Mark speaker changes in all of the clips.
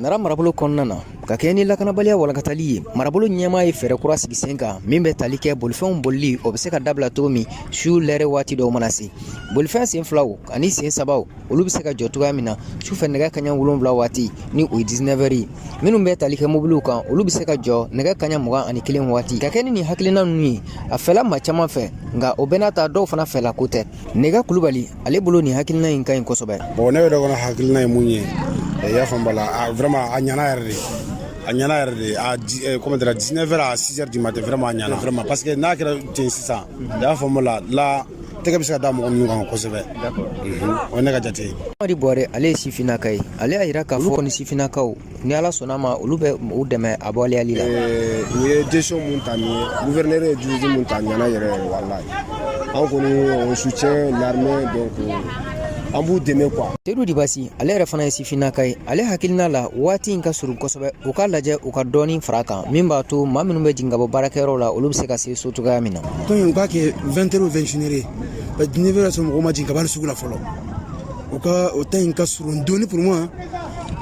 Speaker 1: nara marabolo kɔnɔna na ka kɛɲɛ ni lakanabaliya walankatali ye marabolo ɲɛmaa ye fɛɛrɛ kura sigi sen kan min bɛ tali kɛ bolifɛnw bolili o bɛ se ka dabila cogo min su lɛrɛ waati dɔw mana se bolifɛn sen filaw ani sen sabaw olu bɛ se ka jɔ cogoya min na sufɛ nɛgɛ kaɲɛ wolonwula waati ni o ye 19 heures ye minnu bɛ tali kɛ mobiliw kan olu bɛ se ka jɔ nɛgɛ kaɲa mugan ani kelen waati ka kɛ ni nin hakilina ninnu ye a fɛla maa caman fɛ nka o bɛɛ n'a ta dɔw fana fɛla ko tɛ nɛgɛ kulubali ale bolo nin hakilina in ka ɲi kosɛbɛ bon ne yɛrɛ kɔnɔ
Speaker 2: hakilina ye mun ye i y'a faamu bala a vraiment a ɲana yɛrɛ de a ɲana yɛrɛ de a eh, comment dire 19 heures à 6 heures du matin vraiment a ɲana vraiment parce que n'a kɛra ten sisan i y'a faamu la la tɛgɛ bɛ se ka da mɔgɔ minnu kan kosɛbɛ o ye ne ka jate ye amadi bɔre ale
Speaker 1: ye sifinnaka ye ale y'a jira k'a fɔ kɔni sifinnakaw ni ala sɔnna ma olu bɛ u dɛmɛ a waleyali la u ye décision
Speaker 3: mun ta nin ye guvɛrinɛri ye décision mun ta ɲana yɛrɛ yɛrɛ walayi an kɔni on soutient l'armée donc an b'u dɛmɛ quoi tedu dibasi ale
Speaker 1: yɛrɛ fana ye sifinnaka ye ale hakilina la waati in ka surun kosɛbɛ u ka lajɛ u ka dɔɔni fara kan min b'a to maa minnu bɛ jigin ka bɔ baarakɛyɔrɔ la olu bɛ se ka se so cogoya min na donc u k'a
Speaker 4: kɛ 20 heures ou 21 heures ye parce que 19 heures b'a sɔrɔ mɔgɔw ma jigin ka bɔ sugu la fɔlɔ u ka o temps in ka surun dɔɔni pour moi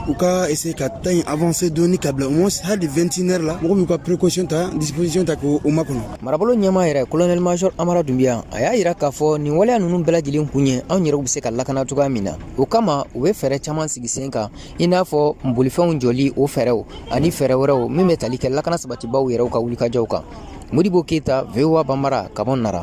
Speaker 4: u ka essayer ka temps in avancer dɔɔni ka bila au moins hali 21 heures la mɔgɔw b'u ka précaution ta disposition ta k'o makɔnɔ marabolo ɲɛmaa
Speaker 1: yɛrɛ colonel major amara dunbiya a y'a yira k'a fɔ nin waleya ninnu bɛɛ lajɛlen kun ye anw yɛrɛw bɛ se ka lakana cogoya min na o kama u bɛ fɛɛrɛ caman sigi sen kan i n'a fɔ bolifɛnw jɔli o fɛɛrɛw ani fɛɛrɛ wɛrɛw min bɛ tali kɛ lakana sabatibaw yɛrɛw ka wulikajɔw kan modibo keyita voa bambara ka bɔ nara